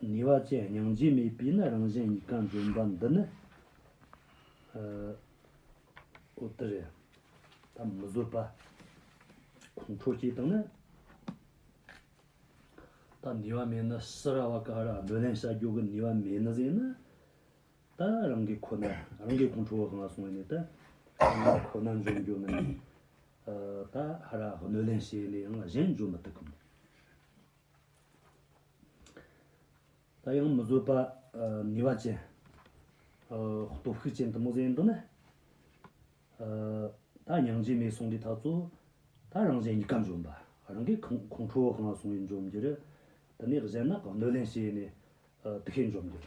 ནུས་བ་ཅན་སྙིང་རྗེ་མེད་པའི་ནི་རང་བཞིན་གཉིས་ཀ་འཛིན་པ་འདི་ནི། ཨོ་ཏི་རེད། ད་མི་བཟོད་པ། ཁོང་ཁྲོ་སྐྱེས་དང་ནི། ད་ནུས་བ་མེད་ནི་སི་ར་བ་ཀ་ར་བསྡུ་ལེན་བྱ་རྒྱུ་གི་ནུས་བ་མེད་ནི་ཟེར་ན། ད་རང་གི་ཁོ་ན་རང་གི་ཁོང་ཁྲོ་བོ་གང་སོང་ནས་ད་རང་གི་ཁོ་ན་འཇོམས་རྒྱུ་ནི། ད་ཧ་ར་བསྡུ་ལེན་བྱས་ནས་ཡང་གཞན་འཇོམས་མི་ཐུབ་གི་མོད། ད་ཡང་མི་བཟོད་པ་ངེས་པ་ཅན། སྟོབས་ཤུགས་ཅན་དུ་མོ་གཟེངས་འདུག་ན། ད་མྱང་རྗེས་མའི་གསུང་འདི་དག་ཚོ། ད་རང་གཞན་གཉིས་ཀ་འཇོམས་པ། རང་གི་ཁོང་ཁྲོ་གང་ལ་སོང་བའི་འཇོམས་འགྱུར། དེ་ནས་གཞན་ནག་གི་གནོད་ལན་བྱས་ནས། དེ་ཤེས་འཇོམས་འགྱུར།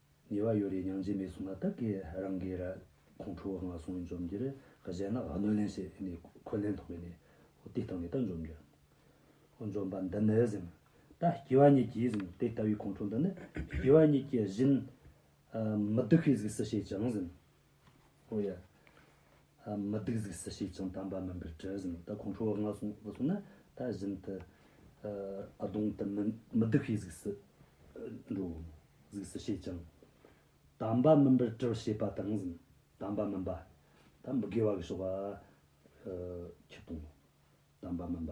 ཉེ་བར་ཡོད་རེ་སྙིང་རྗེ་མེད་གསུངས་ན་བདག་གིས་རང་གི་ར་ཁོང་ཁྲོ་བོ་ང་སོང་འཇོམས་འགྱུར་གཞན་ལ་གནོད་ལན་བྱས་ནས་འཁོན་ལན་ཐོག་པས་ནི་དེ་བཏང་ནས་ད་འཇོམས་འགྱུར། འཇོམས་པ་འདི་ནི་ཟིན། ད་སྐྱེ་བ་གཉིས་ཀྱིས་ཟིན་དེ་ལྟ་བུའི་ཁོང་ཁྲོ་འདི་ནི་སྐྱེ་བ་གཉིས་ཀྱི་བཞིན། མི་སྡུག་ཤས་ཟིག་སུ་བྱས་ཀྱང་ཟིན། ཨོ་ཡ། མི་སྡུག་གཟིགས་སུ་ཞིག་ཅིང་དམ་པ་མིན་པར་དྲི་ཟིན་ད་ཁོང་ཁྲོ་བོ་ང་སོང་ང་སོང་ན་ད་བཞིན་དུ་ཨ་དོང་དུ་མི་སྡུག་ཤེས་གཟིགས་སུ་འགྲོ། གཟིགས་སུ་ཞིག་ཅིང། དམ་པ་མིན་པར་དྲི་ཞེས་པ་དྲང་ཟིན་དམ་པ་མིན་པ། ད་མི་དགེ་བ་གི་ཞོགས་པ་ཁྱི་སྟོང། དམ་པ་མིན་པ།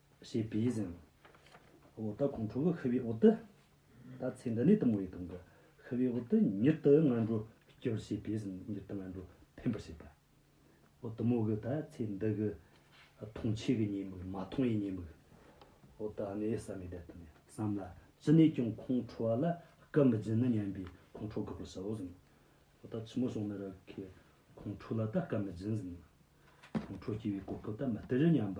ཞེས་པས་བཞེངས། འོག་ཏུ་ཁོང་ཁྲོ་བོ་ཤི་བའི་འོག་ཏུ། ད་ཚེ་འདི་ནས་དུམ་བུའི་དོང་དུ། ཤི་བའི་འོག་ཏུ་མྱུར་དུ་སྔ་འགྲོ་སྐྱོལ་ཞེས་པས་བཞེངས་མྱུར་དུ་སྔ་འགྲོ་འཕེན་པར་བྱེད་པ། འོ་དུམ་བུ་གི་ད་ཚེ་འདི་གི། མཐོང་ཆོས་ཀྱི་ཉེས་དམིགས་མ་མཐོང་བའི་ཉེས་དམིགས། འོ་ད་ནི་བསམ་མེད་བདེ་དོན། བསམ་ལ། ཅི་ནས་ཀྱང་ཁོང་ཁྲོ་བ་ལ་སྐུ་མི་སྦྱིན་ནོ་སྙམ་པའི་ཁོང་ཁྲོ་དགག་པར་བྱའོ་བཞིན། འོ་ད་ཕྱི་མོ་སོང་ནི་ར་ཁའི། ཁོང་ཁྲོ་ལ་ད་སྐུ་མི་སྦྱིན་བཞིན། ཁོང་ཁྲོ་སྐྱེ་བའི་གོ་སྐབས་ད་མི་སྟེར་སྙམ་པ།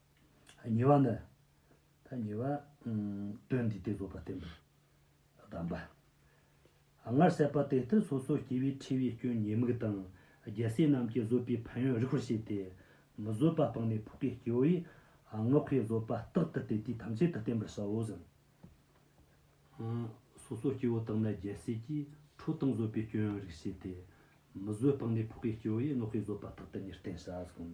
ཉེ་བ་ནི། ཐ་ཉེ་བ། དོན་འདི་སྟེ་རྫོགས་པར་བསྟན་པའི་གདམས་པ། སྔར་བཤད་པ་དེ་ལྟར་སོ་སོར་སྐྱེ་བའི་འཁྲི་བའི་སྐྱོན་ཉེས་དམིགས་དང་རྒྱལ་སྲས་རྣམས་ཀྱིས་བཟོད་པའི་ཕན་ཡོན་རིགས་པར་བྱས་ཏེ། མི་བཟོད་པ་སྤངས་ནས་ཕུག་པའི་སྐྱེ་བོ་ཡིས། སྔགས་ཀྱི་བཟོད་པ་རྟག་ཏུ་དེ་དུས་ཐམས་ཅད་དུ་བསྟན་པར་བྱའོ་ཟིན། སོ་སོར་སྐྱེ་བོ་དག་ནི་རྒྱལ་སྲས་ཀྱིས་ཁྲོ་དང་བཟོད་པའི་སྐྱོན་ཡོན་རིགས་བྱས་ཏེ། མི་བཟོད་སྤངས་ནས་ཕུག་པའི་སྐྱེ་བོ་ཡིས་སྔགས་ཀྱི་བཟོད་པ་རྟག་ཏུ་ཉེར་བསྟན་བྱ་ཟིན།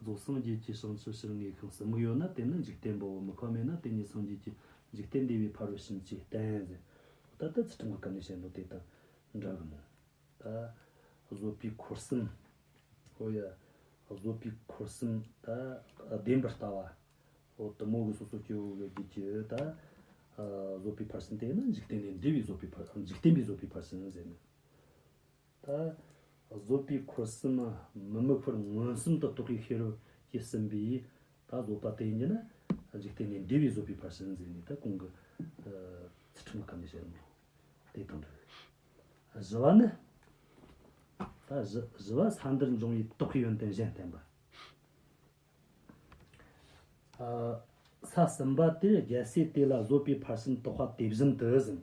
རྫོགས་སངས་རྒྱས་ཀྱི་བྱང་ཆུབ་ཕྱིར་ངེས་ཤིང་ཟབ་མོ་ཡོད་ན་དེ་ནི་འཇིག་རྟེན་པའོ་མི་ཁོམ་མེད་ན་དེ་ཉིད་སངས་རྒྱས་ཀྱི་འཇིག་རྟེན་བདེ་བའི་ཕ་རོལ་ཕྱིན་ཅེས་བསྟན། ད་ལྟ་ཚུལ་ཁྲིམས་ཀྱི་སྐབས་ནས་བཤད་འདུག་དེ་དང་འདྲ་གི་མོད། བཟོད་པའི་འཁོར་གསུམ། ཧོ་ཡ། བཟོད་པའི་འཁོར་གསུམ། བདེན་པར་ལྟ་བ། ཧོ། དུ་མོ་གི་སོ་སོར་སྐྱེ་བོ་དགའི་རྒྱུད་ཀྱི། བཟོད་པའི་ཕར་ཕྱིན་དེ་ནི་འཇིག་རྟེན་ལས་འདས་པའི་བཟོད་པའི་ཕར་འཇིག་རྟེན་པའི་བཟོད་པའི་ཕར་ཕྱིན་ཟེར་ནས། ད་བཟོད་པའི་འཁོར་གསུམ་མ་དམིགས་བར་མངོན་སུམ་དུ་རྟོགས་ཀྱི་ཤེས་རབ་ཀྱིས་ཟིན་པས་ད་བཟོད་པ་དེ་ཉིད་ནི་འཇིག་རྟེན་ནས་འདས་པའི་བཟོད་པའི་བར་གསུམ་འཛིན་ནས་ད་གོང་གི་ཚུལ་ཁྲིམས་གང་གིས་བྱས་ནོ། དེ་དང་དུ་བཞི་བ་ནི། ད་བཞི་བ་ས་འདིར་འབྱུང་བའི་དོགས་པའི་ཡོན་ཏན་གཞན་བསྟན་པ། ས་གསུམ་པ་དེར་རྒྱལ་སྲས་དེ་ལ་བཟོད་པའི་བར་གསུམ་རྟོགས་པ་དེ་བཞིན་དུ་ཟིན།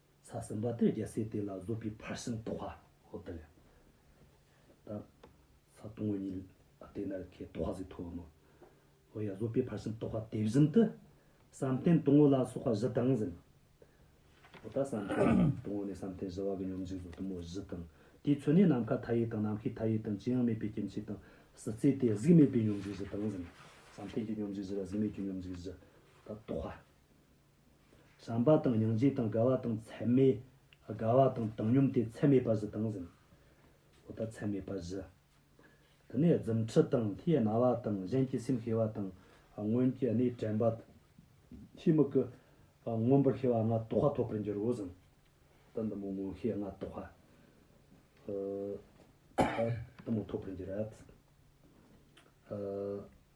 ཚ་སེམས་བ་ཏོས་རྒྱལ་སྲས་དེ་ལ་བཟོད་པའི་ཕར་ཕྱིན་ཏོག་ཧ་ཧོ་དང། ད་ཚ་སྟོང་བོ་ཉིད་ལ་དེ་ནར་ཁའི་ཏོག་ཧ་ཟིག་ཐོབ་བམ། ཨོ་ཡ་བཟོད་པའི་ཕར་ཕྱིན་ཏོག་ཧ་དེ་བཞིན་དུ། བསམ་གཏན་སྟོང་བོ་ལ་སོགས་པ་བཞི་དང་ཟིན། ཨོ་ད་བསམ་གཏན་སྟོང་བོ་ནས་བསམ་གཏན་བཞི་བ་གི་སྙོམས་འཇུག་གཟུགས་གཏུམ་མོ་བཞི་དང། དེའི་ཚུལ་ནི་ནམ་མཁའ་མཐའ་ཡས་དང་ནམ་མཁའི་མཐའ་ཡས་དང་ཅི་ཡང་མེད་པའི་སྐྱེ་མཆེད་དང་སྲིད་རྩེ་སྟེ་གཟུགས་མེད་པའི་སྙོམས་འཇུག་བཞི་དང་ཟིན། བསམ་གཏན་གྱི་སྙོམས་འཇུག་བཞི་ལ་གཟུགས་མེད་ཀྱི་སྙོམས་འཇུག་བཞི། ད་ཏོག་ཧ། བསམ་པ་དང་སྙིང་རྗེ་དང་དགའ་བ་དང་ཚད་མེད། དགའ་བ་དང་བཏང་སྙོམས་ཏེ་ཚད་མེད་པ་བཞི་དང་ཟིན། འོ་ད་ཚད་མེད་པ་བཞི། དེ་ནས་རྫུ་འཕྲུལ་དང་ལྷའི་རྣ་བ་དང་གཞན་གྱི་སེམས་ཤེས་པ་དང་སྔོན་གྱི་གནས་དྲན་པ། ཐུན་མི་དགུ། མངོན་པར་ཤེས་པ་ལྔ་རྟོགས་པ་ཐོབ་པར་འགྱུར་རོ་ཟིན། འོ་ད་འདི་མོ་མངོན་ཤེས་ལྔ་རྟོགས་པ། འོ་ད་འདི་མོ་ཐོབ་པར་འགྱུར།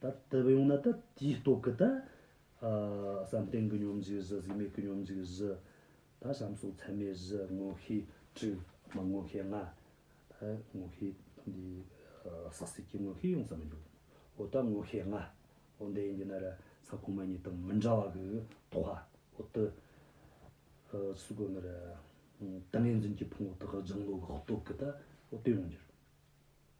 ད་ལྟ་བས་ཡོང་ན་ད་དེའི་སྟོབས་ཀྱིས་ད། བསམ་གཏན་གྱི་སྙོམས་འཇུག་བཞི་གཟུགས་མེད་ཀྱི་སྙོམས་འཇུག་བཞི། ད་བྱམས་སོགས་ཚད་མེད་བཞི་དངོས་ཤེས་དྲུག། མ་དངོས་ཤེས་ལྔ། ད་དངོས་ཤེས་འདི། ཟག་ཟད་ཀྱི་དངོས་ཤེས་ཡོངས་སུ་མི་འཇུག། འོ་ད་དངོས་ཤེས་ལྔ། འོ་འདི་འདི་ན་ར་ས་གོང་མ་གཉིས་དང་མི་འདྲ་བ་གི་དོགས་པ། འོ་ད། ཚུལ་དགོས་ན་ར། ཏིང་ངེ་འཛིན་གྱི་ཕུང་པོ་དག་སྦྱང་བློ་གི་སྟོབས་ཀྱིས་ད། འོ་དེ་ཡོང་འགྱུར།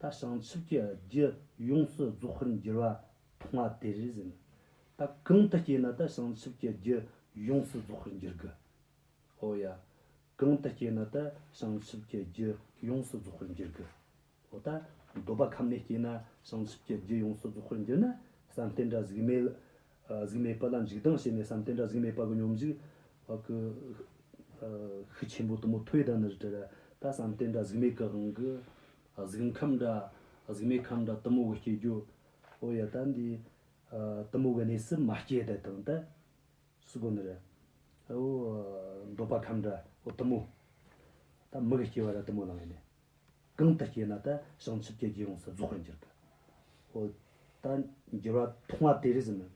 ད་བྱང་ཆུབ་ཀྱི་རྒྱུ་ཡོངས་སུ་རྫོགས་ཤིང་འགྱུར་བ་མཐོང་བ་དེ་རེ་ཟིན། ད་གང་དུ་སྐྱེས་ན་ད་བྱང་ཆུབ་ཀྱི་རྒྱུ་ཡོངས་སུ་རྫོགས་ཤིང་འགྱུར་དགོས། ཨོ་ཡ། གང་དུ་སྐྱེས་ན་ད་བྱང་ཆུབ་ཀྱི་རྒྱུ་ཡོངས་སུ་རྫོགས་ཤིང་འགྱུར་དགོས། ཨོ་ད་འདོད་པ་ཁམས་ནས་སྐྱེས་ན་བྱང་ཆུབ་ཀྱི་རྒྱུ་ཡོངས་སུ་རྫོགས་ཤིང་འགྱུར་ན་བསམ་གཏན་དགྲ་གཟིགས་མེད། གཟུགས་མེད་པ་ལ་འཇིག་ལྡང་བྱེད་མེད་བསམ་དེ་འདྲ་གཟུགས་མེད་པ་གི་སྙོམས་འཇུག། ཤུགས་ཆེན་པོ་དུ་མོ་ཐོས་དང་ནི་བྲལ། ད་བསམ་དེ་འདྲ་གཟུགས་མེད་ཀྱི་དབང་གིས། གཟུགས་ཁམས་འདྲ། གཟུགས་མེད་ཁམས་འདྲ་དུ་མོ་གི་སྐྱེ་རྒྱུ། ཨོ་ཡ་ད་འདི། དུ་མོ་གི་གནས་སུ་མ་སྐྱེས་དེ་དང་དེ། སུ་གོ་ནི་རེ། འོ། འདོད་པ་ཁམས་འདྲ། དུ་མོ། ད་མི་གི་སྐྱེ་བ་ར་དུ་མོ་ལང་ཡིན། གང་དུ་སྐྱེས་ན་དེ་བྱང་ཆུབ་ཀྱི་རྒྱུས་ཡོངས་སུ་རྫོགས་པར་འགྱུར་ཏེ། ཧོ། ད་འགྱུར་བ་མཐོང་བ་དེ་རིས་མེད།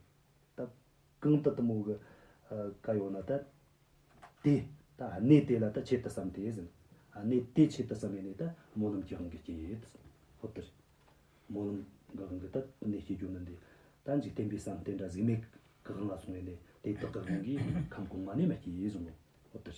ད་གང་དུ་གཏི་མུག་གི་བཀའ་ཡོད་ན་དེ། དེ་ད་གནས་དེ་ལ་ད་ཆེད་དུ་བསམ་སྟེ། གནས་དེ་ཆེད་དུ་བསམས་ནས་ད་སྨོན་ལམ་གྱི་དབང་གིས་སྐྱེས། ཧོ། དེར་སྨོན་ལམ་གྱི་དབང་གིས་ད་གནས་སྐྱེ་རྒྱུ་མིན་ཏེ། ད་འཇིག་རྟེན་པའི་བསམ་གཏན་དགྲ་གཟིགས་མེད་གི་དབང་ལ་སོང་བས་ནས་དེ་དག་གི་དབང་གིས་ཁམས་གོང་མ་ནས་མ་སྐྱེས། ཧོ། དེར།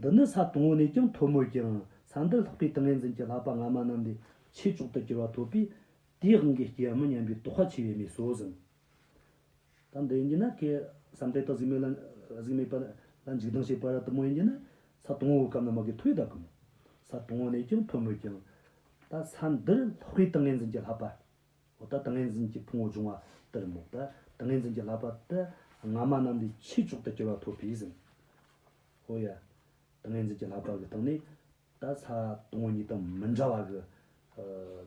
འདི་ནི་ས་དང་བོ་ནས་ཀྱང་མཐོ་མོད་ཀྱང་ས་འདིར་ལྷགས་པའི་ཏིང་ངེ་འཛིན་གྱི་ལྷག་པ་སྔ་མ་རྣམས་ལས་ཆེས་མཆོག་ཏུ་གྱུར་པ་ཐོབ་པས་དེའི་དབང་གིས་སྐྱེ་བ་མི་མཉམ་པའི་དོགས་པ་ཆེ་བས་མི་གསོ་ཟིན། ད་འདི་ཡིན་གྱི་ན་ཀྱེ། བསམ་གཏན་དང་གཟུགས་མེད་ལ། གཟུགས་མེད་པ། ལ་འཇིག་ལྡང་བྱེད་པ་ར་དུ་མོ་ཡིན་གྱི་ན། ས་དང་བོའི་སྐབས་ན་མ་གི་མཐོ་བས་དག་གམ། ས་དང་བོ་ནས་ཀྱང་མཐོ་མོད་ཀྱང། ད་ས་འདིར་ལྷགས་པའི་ཏིང་ངེ་འཛིན་གྱི་ལྷག་པ། འོ་ད་ཏིང་ངེ་འཛིན་གྱི་ཕུང་བོ་འབྱུང་བ་ལྟར་རྨུགས། ད་ཏིང་ངེ་འཛིན་གྱི་ལག་པ་ལྟར་སྔ་མ་རྣམས་ལས་ཕྱིས་མཆོག་ཏུ་གྱུར་པ་ཐོབ་པས་ཟིན། ཧོ་ཡ། ཏིང་ངེ་འཛིན་གྱི་ལག་པ་གི་སྟེང་ནས། ད་ས་དུམ་བུ་གཉིས་དང་མི་འདྲ་བ་གི།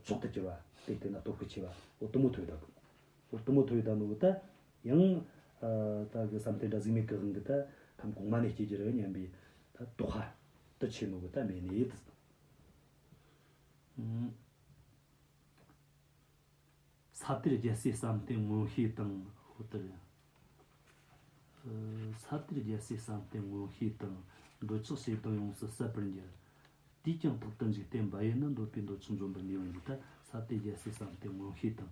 མཆོག་ཏུ་གྱུར་པ་སྟེ་དེ་ན་སྟོབས་ཀྱི་ཆེ་བ་ཨོ་དུམ་བུ་ཐོད་དང། ཨོ་དུམ་བུ་ཐོད་དང་ནོ་ད། ཡང། ད་གི་བསམ་གཏན་དགྲ་གཟིགས་མེད་གི་དབང་གིས་ད། ཁམས་གོང་མ་ནས་སྐྱེས་ཀྱི་རི་སྙམ་པའི། ད་རྟོགས་ཧ། ཏུ་ཆེ་ནོ་གི་ད་མེད་ནས་ཡིད་དུ། ས་གཏེར་རྒྱལ་སྲས་བསམ་གཏན་མངོན་ཤེས་དང། ས་གཏེར་རྒྱལ་སྲས་བསམ་གཏན་མངོན་ཤེས་དང། འདོད་ཆགས་བྱེ་བྲག་ཡོངས་སུ་གསལ་བར་འགྱུར། དུས་ཀྱང་ཐོག་ཏུ་འཇིག་རྟེན་འབའ་ཡས་ན་འདོད་པའི་འདོད་ཆགས་འཇོམས་པར་ནུས་པ་འདི་ལྟར་ས་གཏེར་རྒྱལ་སྲས་བསམ་གཏན་མངོན་ཤེས་དང།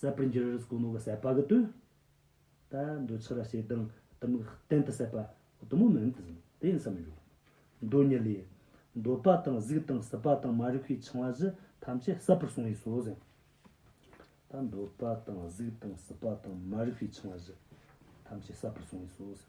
གསད་པར་འགྱུར་རིགས་གོང་མ་བུ་གསད་པ་གི་དུས་ད་འདོད་ཆགས་ར་ཞེས་དང་གཏི་མུག་གཏན་དུ་གསད་པ་གཏི་མུག་མིན་དུ་ཟིན་དེ་ཡིན་ས་མི་འགྱུར། འདོད་ཉིད་ལས། འདོད་པ་དང་གཟུགས་དང་སྲིད་པ་དང་མ་རིག་པའི་འཆིང་བ་བཞི་ཐམས་ཅད་གསད་པར་གསུངས་བས་སོ་ཟེར། ད་འདོད་པ་དང་གཟུགས་དང་སྲིད་པ་དང་མ་རིག་པའི་འཆིང་བ་བཞི་ཐམས་ཅད་གསད་པར་གསུངས་བས་སོ་ཟེར།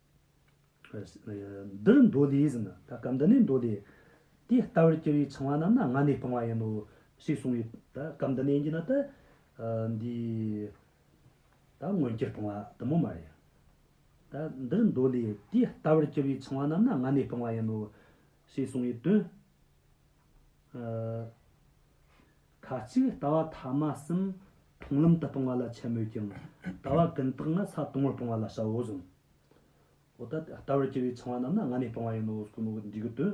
འདིར་མདོ་ལས་ཟིན་ན་ད་སྐབས་འདི་ནས་མདོ་ལས། དེ་ལྟ་བུར་གྱུར་པའི་འཆིང་བ་རྣམས་ན་སྔ་ནས་སྤངས་པ་ཡིན་ནོ། ཞེས་གསུངས་པས་ད་སྐབས་འདི་ནས་བགྱིས་ན་ད། འདིས། ད་སྔོན་སྐྱེར་སྤངས་པ་དུ་མ་མ་ཡིན། ད་འདིར་མདོ་ལས་དེ་ལྟ་བུར་གྱུར་པའི་འཆིང་བ་རྣམས་ན་སྔ་ནས་སྤངས་པ་ཡིན་ནོ། ཞེས་གསུངས་པའི་དོན། ཁ་ཅིག་ལྟ་བ་ཐ་མ་གསུམ་མཐོང་ལམ་དུ་སྤོང་བ་ལ་འཆལ་མོད་ཀྱང་ལྟ་བ་ཀུན་བརྟགས་ན་ས་སྟོང་བར་སྤོང་བ་ལ་བྱའོ་གསུངས། འོ་ད་ལྟ་བར་གྱུར་བའི་འཆིང་བ་རྣམས་ན་ང་ནི་སྤོང་བ་ཡིན་ནོ་གསུངས་ནོ་འདི་གི་དོན།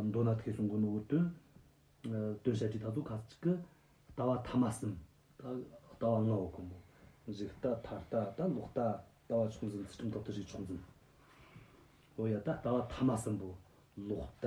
མདོར་ན་ཐེག་གསུམ་གི་ནོར་བུའི་དོན། དོན་བཤད་ཁྲིད་ད་དུ་ཁ་ཅིག་གིས། ལྟ་བ་ཐ་མ་གསུམ། ལྟ་བ་ལྔ་བོ་དཀོན་མོ། གཞི་ལྟ་མཐའ་ལྟ་ལྟ་ལོག་ལྟ། ལྟ་བ་ཕྱོགས་འཛིན་ཚུལ་ཁྲིམས་ཐོབ་ཐུབ་བྱེད་ཕྱོགས་འཛིན། འོ་ཡ་ད་ལྟ་བ་ཐ་མ་གསུམ་པོ། ལོག་ལྟ།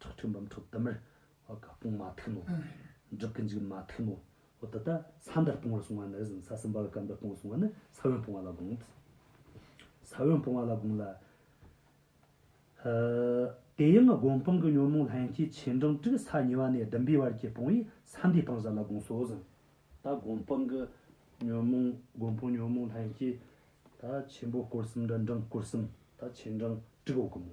ཐུགས་ཐུན་འབུམ་ཐུགས་དམ་རེ། དཔུང་མ་ཐུན་ནོ། སྒྲུབ་ཀྱི་འཇིགས་མ་ཐུན་ནོ། འདི་ལྟར་ས་འདིར་སྤོང་བར་གསུངས་བ་ནི་གཟིམ་ས་གསུམ་པ་ལ་སྐབས་འདིར་སྤོང་བར་གསུངས་བ་ནི་ས་བོན་སྤོང་བ་ལ་དགོངས། ས་བོན་སྤོང་བ་ལ་དགོངས་ལ། དེ་ཡང་སྒོམ་སྤང་གི་ཉོན་མོངས་ལྷན་སྐྱེས་ཆེ་འབྲིང་དྲུག་ས་ཉི་བ་ནས་བདུན་པའི་བར་གྱི་སྤོང་བས་ས་འདིའི་སྤང་བྱ་ལ་དགོངས་སོ། གཟིམས། ད་སྒོམ་སྤང་གི་ཉོན་མོངས་སྒོམ་སྤང་ཉོན་མོངས་ལྷན་སྐྱེས། ད་ཆེན་པོ་སྐོར་གསུམ་འདྲ་འབྲིང་སྐོར་གསུམ། ད་ཆེ་འབྲིང་དྲུག་འོག་གི་མོ།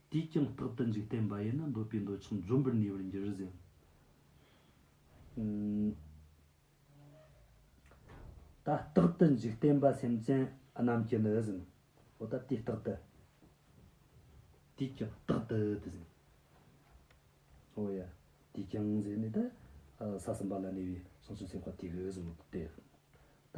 དུས་ཀྱང་རྟག་ཏུ་འཇིག་རྟེན་པ་ཡིན་ན་འདོད་པའི་འདོད་ཆགས་འཇོམས་པར་ནུས་པར་འགྱུར་ཟིན། ད་རྟག་ཏུ་འཇིག་རྟེན་པ་སེམས་ཅན་རྣམས་ཀྱི་ནི་ཟིན། འོ་ད་དུས་རྟག་ཏུ། དུས་ཀྱང་རྟག་ཏུ་དུ་ཟིན། འོ་ཡ། དུས་ཀྱང་ཟེར་ནས་ད། ས་གསུམ་པ་ལ་གནས་པའི་གསུང་སོ་སོའི་བར་དུས་ཀྱི་ཟིན་མོད་དེ། ད།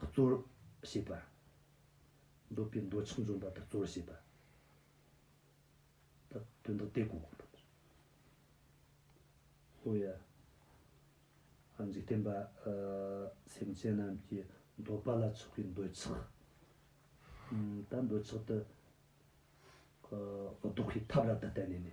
གཙོར་བྱས་པ། འདོད་པའི་འདོད་ཆགས་འཇོམས་པ་དང་གཙོར་བྱས་པ། དོན་དག་དེ་གོ། ཧོ་ཡ། འཇིག་རྟེན་པ། སེམས་ཅན་རྣམས་ཀྱི་འདོད་པ་ལ་ཆགས་པའི་འདོད་ཆགས། ད་འདོད་ཆགས་དེ། ལྡོག་པའི་ཐབས་ལ་དེ་བསྟན་ནས་ནི།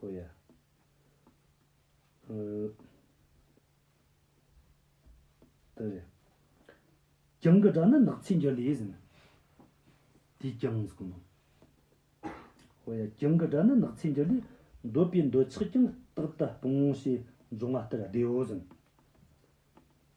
ཧོ་ཡ། ད་རེ། རྒྱང་གི་སྒྲ་ནི་ནགས་ཚལ་འགྱུར་ལས་ཟིན། དེས་ཀྱང་གཟུགས་སྣང། ཧོ་ཡ། རྒྱང་གི་སྒྲ་ནི་ནགས་ཚལ་འགྱུར་ལས། འདོད་པའི་འདོད་ཆགས་ཀྱང་རྟག་ཏུ་སྤོང། ཞེས་འབྱུང་བ་ལྟར་བདེ་བོ་ཟིན།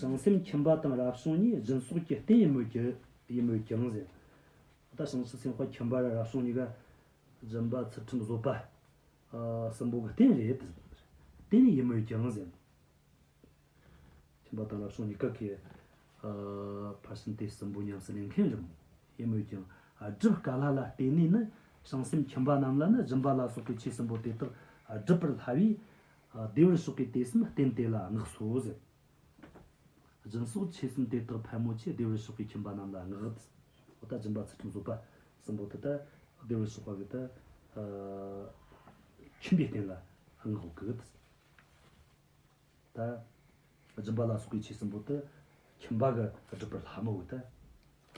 བྱང་སེམས་ཁྱིམ་པ་དང་རབ་བྱུང་གཉིས་སྦྱིན་སོགས་ཀྱི་རྟེན་ཡིན་མོད་ཀྱི། ཡིན་མོད་ཀྱང་ཟེར། ད་ལྟ་བྱང་ཆུབ་སེམས་དཔའ་ཁྱིམ་པ་རབ་བྱུང་གཉིས་ཀ། སྦྱིན་པ་ཚུལ་ཁྲིམས་བཟོད་པ། གསུམ་པོ་གི་རྟེན་རེད་དེ། རྟེན་ཡིན་མོད་ཀྱང་ཟེར། ཁྱིམ་པ་དང་རབ་བྱུང་གཉིས་ཀ་གི། ཕར་ཕྱིན་དེ་གསུམ་པོ་ཉམས་སུ་ལེན་མཁན་རེད་མོད། ཡིན་མོད་ཀྱང། སྒྲུབ་དཀའ་ལྷ་ལ་བརྟེན་ནས་ནི། བྱང་སེམས་ཁྱིམ་པ་རྣམས་ལ་ནི་སྦྱིན་པ་ལ་སོགས་པའི་ཆོས་གསུམ་པོ་དེ་དག་སྒྲུབ་པར་སླ་བས། བདེ་བར་གཤེགས་པའི་དད་སེམས་བརྟན་དེ་ལ་བསྔགས་སོ། སྦྱིན་སོགས་ཆོས་གསུམ་དེ་དག་ཕལ་མོ་ཆེ་བདེ་བར་གཤེགས་པའི་ཁྱིམ་པ་རྣམས་ལ་བསྔགས། འོ་ད་སྦྱིན་པ་ཚུལ་ཁྲིམས་བཟོད་པ་གསུམ་པོ་དེ་དག་བདེ་བར་གཤེགས་པ་གི་དེ་ཁྱིམ་པའི་རྟེན་ལ་བསྔགས་སོ། ད་སྦྱིན་པ་ལ་སོགས་པའི་ཆོས་གསུམ་པོ་དེ་ཁྱིམ་པ་གི་སྒྲུབ་པར་ལྷག་མ་བོ་དེ་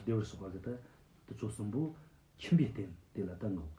བདེ་བར་གཤེགས་པ་གི་དེ་ཆོས་གསུམ་པོ་ཁྱིམ་པའི་རྟེན་དེ་ལ་དེ་བསྔགས།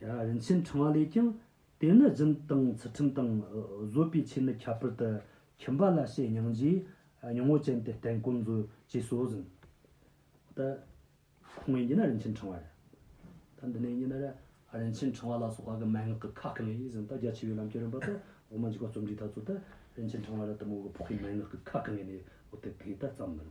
རིན་ཆེན་འཕྲེང་བ་ལས་ཀྱང། དེ་ནི་སྦྱིན་དང་ཚུལ་ཁྲིམས་དང། བཟོད་པའི་ཆོས་ནི་ཁྱད་པར་དུ། ཁྱིམ་པ་ལ་བྱེད་སྙིང་རྗེ། མྱོང་བ་ཅན་དེ་བརྟེན་ཀུན་མཛོད། ཅེས་སོགས་གཟིགས། ད། ཁོང་གཉིས་ཀྱི་ནི་རིན་ཆེན་འཕྲེང་བ་རེད། ད་འདི་ནས་ཉིད་ནི། རིན་ཆེན་འཕྲེང་བ་ལ་སོགས་པ་གི་མན་ངག་གི་ཁ་གང་ཡིན་ཟིན་ད་རྒྱ་ཆེ་བའི་ལམ་སྐྱོན་རིམ་པ་དང་འོག་མ་འཇིག་པ་རྩོམ་སྒྲིག་ད་གཙོ་ད་རིན་ཆེན་འཕྲེང་བ་ལ་དུ་མོ་གི་ཕོག་པའི་མན་ངག་གི་ཁ་གང་ཡིན་ནས་འོ་དེ་དེ་ད་བརྩམས་མིན།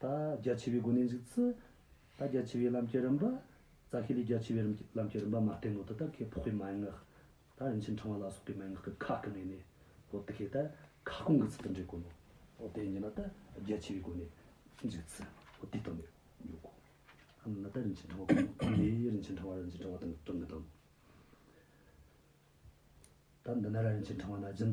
ད་རྒྱ་ཆེ་བའི་སྒོ་ནས་འཇུག་ཚུལ། ད་རྒྱ་ཆེ་བའི་ལམ་གྱི་རིམ་པ། རྩ་ཤེ་ལས་རྒྱ་ཆེ་བའི་ལམ་གྱི་རིམ་པ་མ་བསྟན་ནོ་དེ་ལྟར་ཁས་ཕོག་པའི་མན་ངག། ད་རིན་ཆེན་འཕྲེང་བ་ལ་སོགས་པའི་མན་ངག་གི་ཁག་གི་ངོས་ནས། ཨོ་དེ་ཤེ་ད་ཁ་སྐོང་གི་ཚུལ་དུ་འགྲེལ་དཀོན་ནོ། ཨོ་དེ་ཉིད་ན་ད་རྒྱ་ཆེ་བའི་སྒོ་ནས་འཇུག་ཚུལ། ཨོ་དེ་ལྟར་ནི་མགྱོགས་གོ། ཨ་ན་ད་རིན་ཆེན་འཕྲེང་བ་སྐོང་ངོ། ཨེ་རིན་ཆེན་འཕྲེང་བ་རིན་ཆེན་འཕྲེང་བ་དང་བྲང་གི་དང། ད་འདི་ན་ར་རིན་ཆེན་འཕྲེང་བ་ན་སྦྱིན།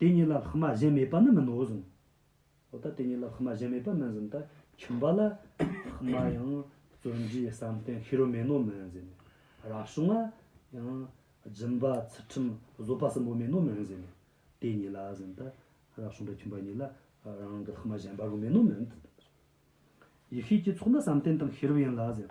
དེ་གཉིས་ལ་ལྷག་མ་གཞན་མེད་པ་ནི་མིན་ནོ་གསུངས། འོ་ད་དེ་གཉིས་ལ་ལྷག་མ་གཞན་མེད་པ་མིན་ཟིན་ད་ཁྱིམ་པ་ལ་ལྷག་མ་ཡང་བརྩོན་འགྲུས་བསམ་གཏན་ཤེས་རབ་མེད་ནོ་མིན་ཟིན། རག་བྱུང་ན་ཡང་སྦྱིན་པ་ཚུལ་ཁྲིམས་བཟོད་པ་གསུམ་པོ་མེད་ནོ་མིན་ཟིན། དེ་གཉིས་ལ་ཟིན་ད་རག་བྱུང་པའི་ཁྱིམ་པ་གཉིས་ལ་རང་གི་ལྷག་མ་གཞན་པ་རུ་མེད་ནོ་མིན། ཡེ་ཤེས་ཀྱི་ཚོགས་ནི་བསམ་གཏན་དང་ཤེས་རབ་ཡིན་ལ་ཟིན།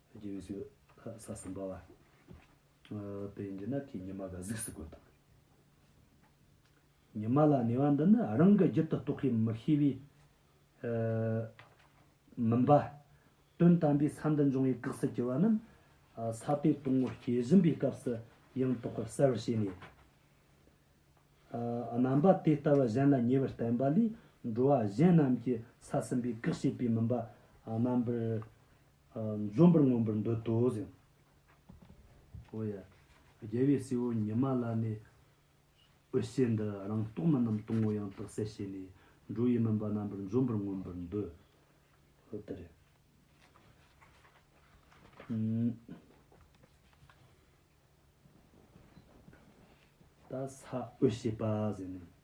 རྗེས་སུ་ས་གསུམ་པ། དེ་འདི་ནག་གི་ཉི་མ་ག་གཟིགས་སུ་དགོས་དང། ཉི་མ་ལ་ནི་བ་འདི་ནི་རང་གི་རྒྱུད་དུ་རྟོགས་ཤིང་མི་ཤེས་པའི། མིན་པ། དོན་དམ་པའི་ས་འདི་འབྱུང་བའི་གེགས་སུ་གྱུར་པ་རྣམས། ས་དེ་སྟོང་ངོ་སྐྱེ་བཞིན་པའི་སྐབས་སུ་ཡང་རྟོགས་པར་གསལ་བར་བྱས་ནས། རྣམ་པ་དེ་ལྟ་བུ་གཞན་ལ་ཉེ་བར་བསྟན་པ་ལས་འགྲོ་བ་གཞན་རྣམས་ཀྱི་ས་གསུམ་པའི་གེགས་བྱེད་པའི་མིན་པ་རྣམ་པར་འཛུམ་པར་མངོན་པར་འདོད་དོ་ཟེར། ཨོ་ཡ། རྒྱལ་བའི་སྲས་བོ་ཉི་མ་ལ་ནི། འོད་ཟེར་འདི་རང་རྟོགས་མིན་ནམ་སྟོང་ངོ་ཡང་དག་གསལ་བྱས་ནས། འགྲོ་ཡི་མིན་པ་རྣམ་པར་འཛུམ་པར་མངོན་པར་འདོད། ཨོ་ཏི་རེ། ད་ས་འོད་བྱེད་པ་ཟེར་ནས།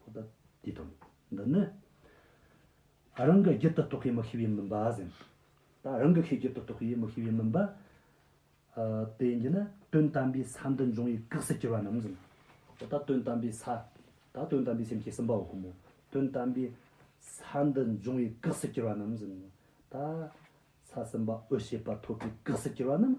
ཁོ་ད་དེ་དང་འདི་ནི། རང་གི་རྒྱུད་དུ་གཏོགས་པའི་མི་ཤེས་པའི་མུན་པ་ཟིན། ད་རང་གི་ཤེས་རྒྱུད་དུ་གཏོགས་པའི་མི་ཤེས་པའི་མུན་པ། དེ་འདི་ནི་དོན་དམ་པའི་ས་འདི་འབྱུང་བའི་གེགས་སུ་གྱུར་པ་རྣམས་ཟིན། ད་ལྟ་དོན་དམ་པའི་ས། ད་དོན་དམ་པའི་སེམས་ཀྱི་སིམ་པའོ་ཀུ་མུ། དོན་དམ་པའི་ས་འདི་འབྱུང་བའི་གེགས་སུ་གྱུར་པ་རྣམས་ཟིན། ད་ས་སིམ་པའོ་ཤེས་པ་ཐོབ་པའི་གེགས་སུ་གྱུར་པ་རྣམས